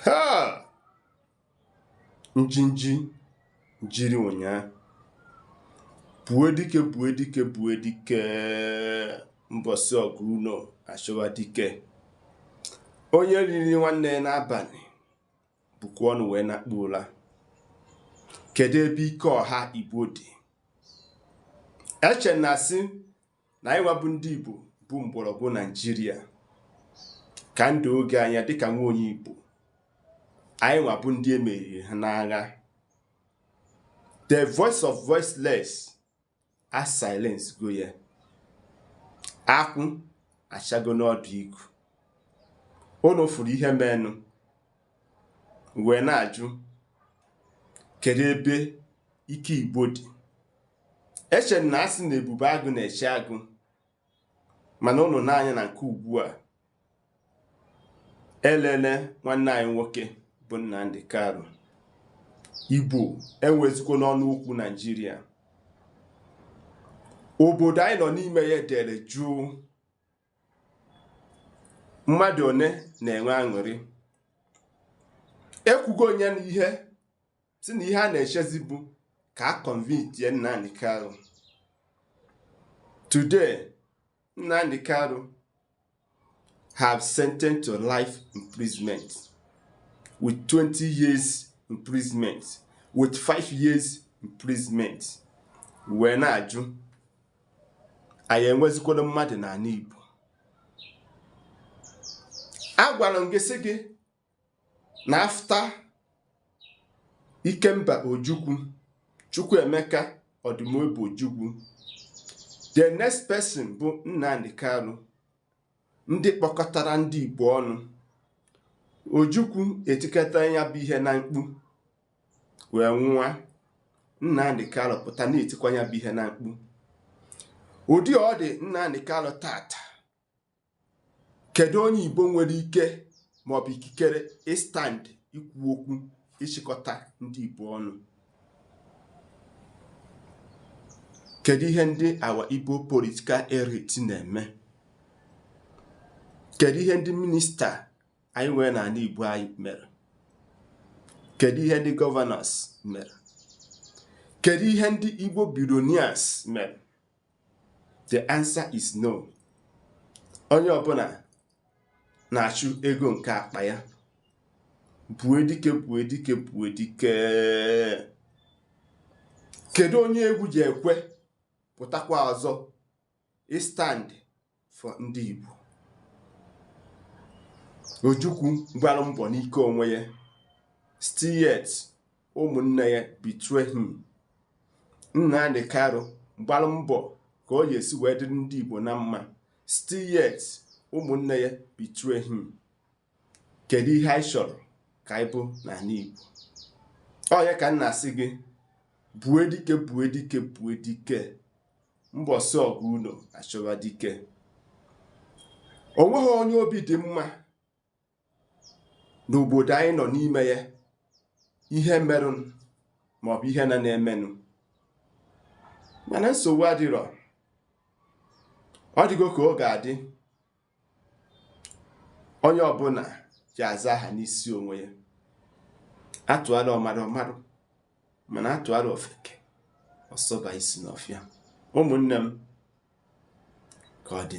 ha njinji jiri ụnyaahụ gbue dike gbue dike gbue dike mbọsị ọgụ unu achọwa dike onye riri nwanne ya n'abalị bukwa ọnụ wee nakpuo ụla kedu ebe ike ọha igbo dị eche na a sị na anyịnwa bụ ndị Igbo bụ mgbọrọgwụ Naijiria ka ndụ oge anya dịka nwa onye Igbo anyịnwa bụ ndị e meriri ha n'agha the voice of voiceless a silence go ya akwụ achago n'ọdụ igu unu fụrụ ihe menụ wee na-ajụ kedu ebe ike Igbo dị eche na a sị na ebube agụ na-eche agụ mana unu nee anya na nke ugbu a elele nwanne anyị nwoke bụ Nnamdi Kanu Igbo enwezikwo n'ọnụ okwu Naijiria obodo anyị nọ n'ime ya dere jụụ mmadụ one na-enwe aṅụrị ekwugo onye na ihe si na ihe a na-echezi bụ ka a convictie Nnamdi Kanu today Nnamdi Kanu have sentenced to life imprisonment with 20 years imprisonment with 5 years imprisonment wee na-ajụ anyị enwezikwara mmadụ n'ala Igbo agwara m gị sị gị na after Ikemba Ojukwu Chukwuemeka Odumegwu Ojukwu the next person bụ Nnamdi Kanu ndị kpọkọtara ndị Igbo ọnụ Ojukwu etikata ya bụ ihe na mkpu wee nwụwa Nnamdi Kanu pụta na-etikwa ya bụ ihe na mkpu ụdị ọ dị Nnamdi Kanu tata kedu onye igbo nwere ike maọbụ ikikere ịstand ikwu okwu ịchịkọta ndị igbo ọnụ kedu ihe ndị our igbo political elite na-eme kedu ihe ndị minista anyị nwere n'ala igbo anyị mere kedu ihe ndị governors mere kedu ihe ndị igbo billionaires mere the answer is no onye ọbụla na-achụ ego nke akpa ya gbue dike gbue dike gbue dike kedu onye egwu ji ekwe pụtakwa ọzọ ịstand for ndị Igbo Ojukwu gbara mbọ n'ike onwe ya still yet ụmụnne ya betray him Nnamdi Kanu gbara mbọ ka ọ ga-esi wee dịrị ndị Igbo na mma still yet ụmụnne ya betray him kedu ihe anyị chọrọ ka anyị bụ n'ala Igbo onye ka m na-asị gị bue dike bue dike bue dike mbọsị ọgụ unu achọwa dike o nweghị onye obi dị mma n'obodo anyị nọ n'ime ya ihe merụnụ maọbụ ihe na na-emenụ mana nsogbu adịrọ ọ dịgo ka ọ ga-adị onye ọbụla ji aza aha n'isi onwe ya atụala ọmara ọ marụ mana atụala ofeke ọ sọba isi n'ọfịa ụmụnne m ka ọ dị